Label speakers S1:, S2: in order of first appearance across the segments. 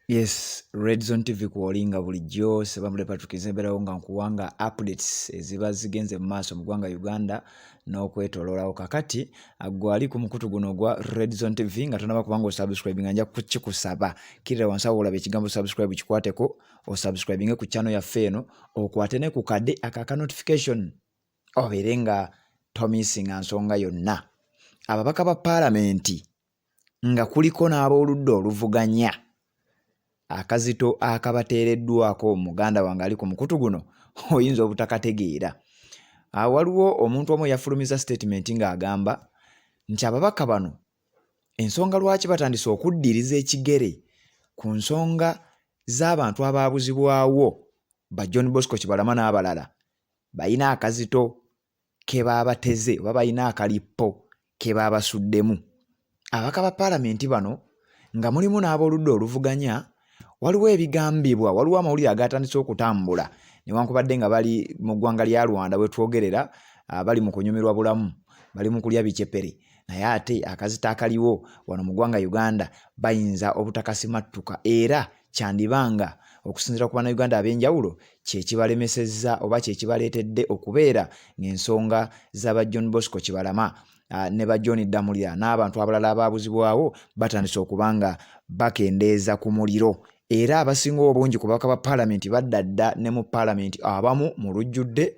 S1: Yes, Red Zone TV kuolinga bulijjo seba mule Patrick Nzemberawo nga nkuwanga updates eziba zigenze mu maaso mu ggwanga Uganda n'okwetololawo kakati gwali ku mukutu guno ogwa Red Zone TV nga tonaba kubanga osubscribe nga nja kukikusaba kirira wansi awo olaba ekigambo subscribe kikwateko osubscribinge ku channel yaffe eno okwate ne ku kade aka ka notification obeere nga tomisinga nsonga yonna ababaka ba palamenti nga kuliko n'abooludda oluvuganya akazito akabateereddwako muganda wange ali ku mukutu guno oyinza obutakategeera ah, waliwo omuntu omu eyafulumiza sitatimenti ng'agamba nti ababaka bano ensonga lwaki batandise okuddiriza ekigere ku nsonga z'abantu abaabuzibwawo ba john bosco kibalama n'abalala balina akazito ke baabateze oba balina akalippo ke baabasuddemu. Ababaka ba paalamenti bano nga mulimu n'aboludda oluvuganya waliwo ebigambibwa waliwo amawulire agaatandise okutambula newankubadde nga bali mu ggwanga lya rwanda wetwogerera ah, bali mu kunyumirwa bulamu bali mu kulya bicepere naye ate akazita akaliwo wano mu ggwanga uganda bayinza obutakasimattuka era kyandiba nga okusinziira ku bannayuganda ab'enjawulo kyekibalemesezza oba kyekibaleetedde okubeera ng'ensonga z'aba john bosco kibalama ah, ne ba john ddamulira n'abantu abalala abaabuzibwawo batandise okuba nga bakendeeza ku muliro era abasinga obungi ku baka ba paalamenti badda dda ne mu paalamenti abamu mu lujjudde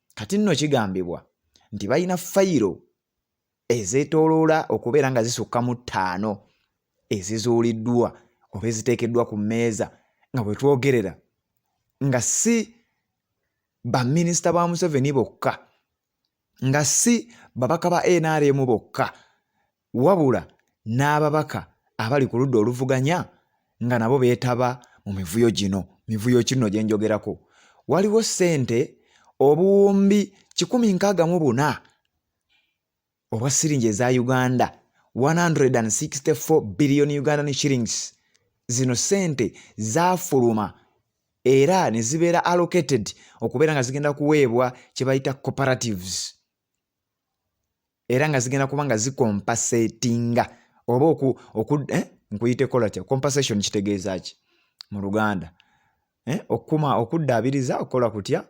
S1: kati nno kigambibwa nti balina fayiro ezeetooloola okubeera nga zisukka mu ttaano ezizuuliddwa oba eziteekeddwa ku mmeeza nga bwe twogerera nga si baminisita ba museveni bokka nga si babaka ba nrm bokka wabula n'ababaka abali ku ludda oluvuganya nga nabo beetaba mu mivuyo gino mivuyo kinno gye njogerako waliwo ssente obuwumbi kikumi nkaaga mu buna obwa siringi eza uganda 164 billion ugandan shillings zino ssente zaafuluma era ne zibeera allocated okubeera nga zigenda kuweebwa kye bayita cooperatives era nga zigenda kuba nga zikompasetinga oba oku, oku eh? nkuyite kola kya compensation kitegeeza ki mu luganda eh? okukuma okuddaabiriza okukola kutya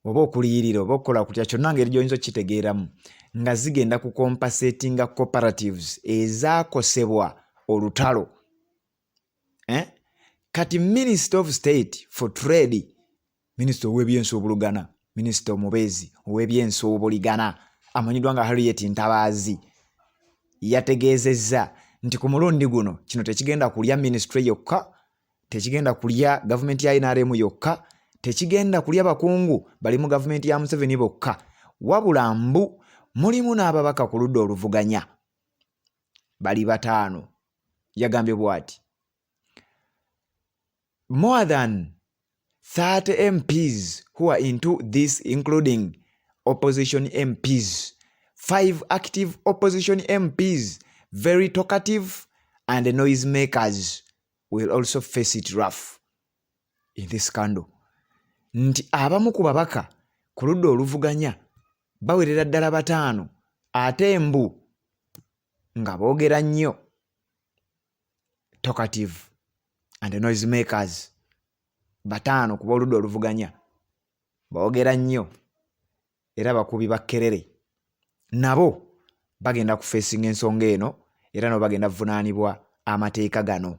S1: oba okuliyirira oba okukola kutya kyonna ngeri gyoyinza okukitegeeramu nga zigenda kukompasetinga cooperatives ezaakosebwa olutalo eh? kati minister of state for trade minister owebyensuubulugana minister omubeezi owebyensuubuligana amanyiddwa nga harriet ntabaazi yategeezezza nti ku mulundi guno kino tekigenda kulya ministry yokka tekigenda kulya gavumenti ya nrm yokka tekigenda kulya bakungu bali mu gavumenti ya museveni bokka wabula mbu mulimu n'ababaka ku ludda oluvuganya bali bataano yagambye bwati more than 30 mps who are into this including opposition mps five active opposition mps very talkative and the noise makers will also face it rough in this candle nti abamu ku babaka ku ludda oluvuganya bawerera ddala bataano ate mbu nga boogera nnyo talkative and noise makers bataano kuba oludda oluvuganya boogera nnyo era bakubi bakkerere nabo bagenda kufeesinga ensonga eno era nabo bagenda kuvunaanibwa amateeka gano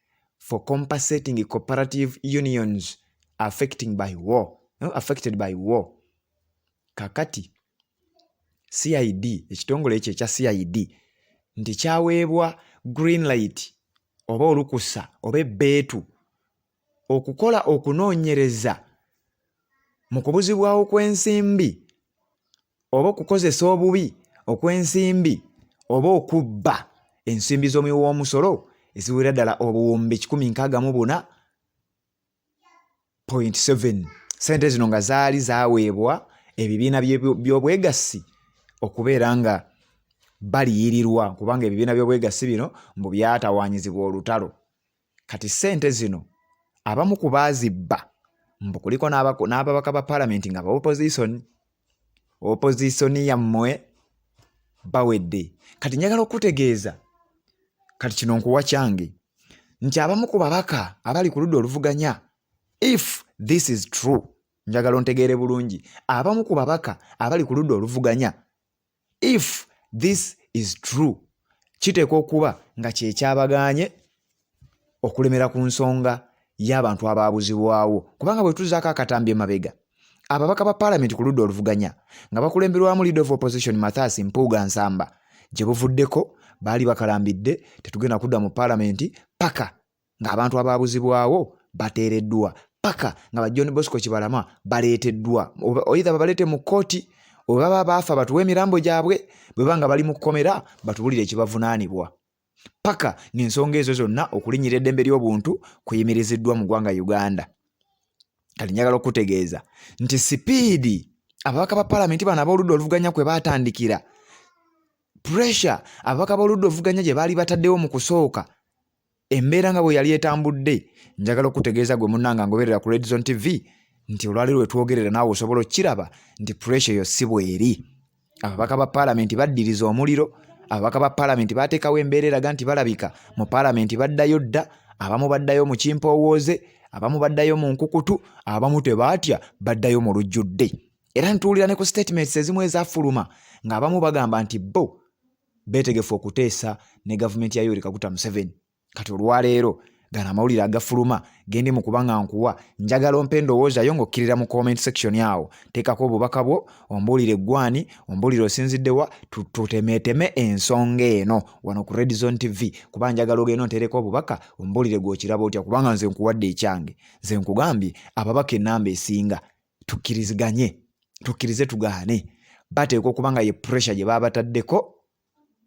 S1: for compensating cooperative unions affecting by war, no, affected by war. Kakati CID ekitongole ekyo ekya CID nti kyaweebwa green light oba olukusa oba ebbeetu okukola okunoonyereza mu kubuzibwawo kw'ensimbi oba okukozesa obubi okw'ensimbi oba okubba ensimbi z'omuwi w'omusolo eziwera ddala obuwumbi kikumi nkaaga mu buna point seven sente zino nga zaali zaweebwa ebibiina by'obwegassi okubeera nga baliyirirwa kubanga ebibiina by'obwegassi bino mbu byatawanyizibwa olutalo kati ssente zino abamu ku baazibba mbu kuliko n'ababaka ba palamenti nga baopozisoni opozisoni yammwe bawedde kati njagala okutegeeza kati kino nkuwa kyange nti abamu ku babaka abali ku ludda oluvuganya if this is true njagala ontegeere bulungi abamu ku babaka abali ku ludda oluvuganya if this is true kiteekwa okuba nga kyekyabagaanye okulemera ku nsonga y'abantu abaabuzibwawo kubanga bwe tuzaako akatambi emabega ababaka ba paalamenti ku ludda oluvuganya nga bakulemberwamu leader of opposition mathasi mpuuga nsamba gye buvuddeko baali bakalambidde tetugenda kudda mu paalamenti paka ng'abantu abaabuzibwawo bateereddwa paka nga ba john bosco kibalama baleeteddwa oidha babaleete mu kkooti oba baba baafa batuwa emirambo gyabwe bwe ba nga bali mu kkomera batubulire ekibavunaanibwa paka ng'ensonga ezo zonna okulinyira eddembe ly'obuntu kuyimiriziddwa mu ggwanga uganda kati njagala okutegeeza nti sipiidi ababaka ba palamenti bano ab'oludda oluvuganya kwe baatandikira pressure ababaka b'oludda oluvuganya gye baali bataddewo mu kusooka Embeera nga bwe yali etambudde, njagala okutegeeza gwe munnanga ngoberera ku Red Zone TV nti olwaleero lwe twogerera naawe osobola okukiraba nti puresha eyo si bweri. Ababaka ba paalamenti baddiriza omuliro, ababaka ba paalamenti baateekawo embeera eraga nti balabika mu paalamenti baddayo dda, abamu baddayo mu kimpoowooze, abamu baddayo mu nkukutu, abamu tebaatya baddayo mu lujjudde. Era ntuwulira ne ku sitatimenti ezimu ezafuluma ng'abamu bagamba nti bo beetegefu okuteesa ne gavumenti ya Yoweri Kaguta Museveni kati olwaleero gano amawulire agafuluma gendi mu kuba nga nkuwa njagala ompe endowooza yo ng'okkirira mu comment section awo teekako obubaka bwo ombuulire eggwani ombuulire osinziddewa tutemeeteme ensonga eno wano ku red zone tv kuba njagala ogenda onteereko obubaka ombuulire gw'okiraba otya kubanga nze nkuwadde ekyange nze nkugambye ababaka ennamba esinga tukkiriziganye tukkirize tugaane bateekwa okuba nga ye pressure gye baabataddeko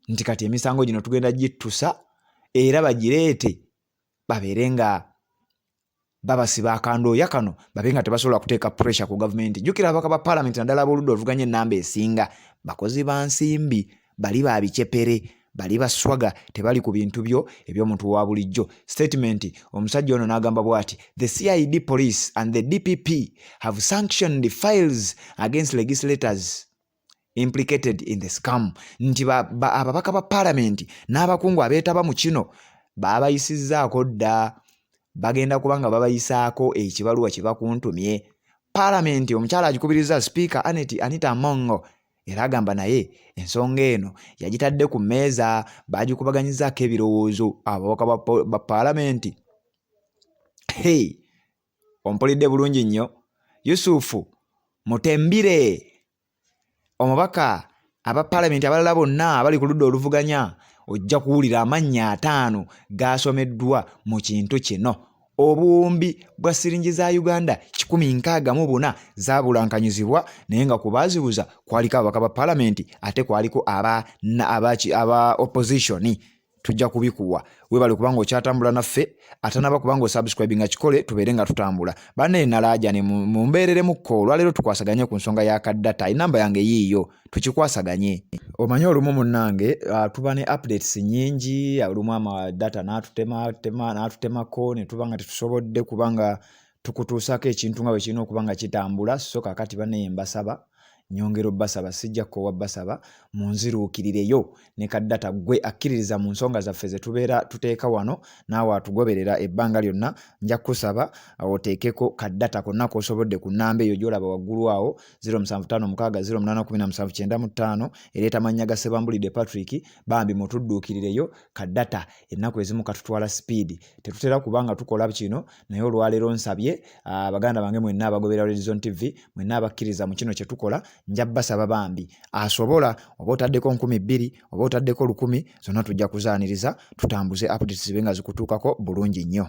S1: nti kati emisango gino tugenda gittusa era bagireete babeere nga babasiba akandooya kano babe nga tebasobola kuteeka pressure ku gavumenti jjukira ababaka ba palamenti naddala ab'oludda oluvuganya ennamba esinga bakozi ba nsimbi bali ba bicepere bali baswaga tebali ku bintu byo eby'omuntu wa bulijjo statement omusajja ono n'agamba bwati the cid police and the dpp have sanctioned the files against legislators implicated in the scam nti ababaka ba palamenti n'abakungu abeetaba mu kino baabayisizzaako dda bagenda kuba nga babayisaako ekibaluwa kye bakuntumye palamenti omukyala agikubirizza sipiika anet anita mongo Era agamba naye ensonga eno yagitadde ku mmeeza baagikubaganyizaako ebirowoozo ababaka ba paalamenti. Hey, ompulidde bulungi nnyo Yusufu Mutembire omubaka aba paalamenti abalala bonna abali ku ludda oluvuganya ojja kuwulira amannya ataano gaasomeddwa mu kintu kino. obuwumbi bwa siringi za uganda 164 zabulankanyizibwa naye nga ku baazibuza kwaliko ababaka ba palamenti ate kwaliko aba, aba, aba oppositioni tujja kubikuwa webale kubanga okyatambula naffe atanaba kubanga osubscribe nga kikole tubeere nga tutambula bana enalaajane mumbeereremukko olwaleero tukwasaganye ku nsonga ya kaddata enamba yange yiiyo tukikwasaganye omanyi olumu munange uh, tuba ne updates nyingi olumu ama data natutema tema natutemako netuba nga tetusobodde kubanga tukutuusako ekintu nga bwekirina okuba nga kitambula so kakati baneye mbasaba nyongera obbasaba sijja kkowa bbasaba munziruukirireyo ne ka data gwe akkiririza mu nsonga zaffe ze tubeera tuteeka wano naawe atugoberera ebbanga lyonna nja kukusaba uh, oteekeko ka data konna k'osobodde ku nnamba eyo gy'olaba waggulu awo 0756081795 ereeta mannya ga sebambulidde patrick bambi mutudduukirireyo ka data ennaku ezimu katutwala sipiidi tetutera kuba nga tukola kino naye olwaleero nsabye ah, baganda bange mwenna abagobera Horizon TV mwenna abakkiriza mu kino kye tukola nja basaba bambi asobola oba otaddeko nkumi bbiri oba otaddeko lukumi zonna tujja kuzaaniriza tutambuze updates zibe nga zikutuukako bulungi nnyo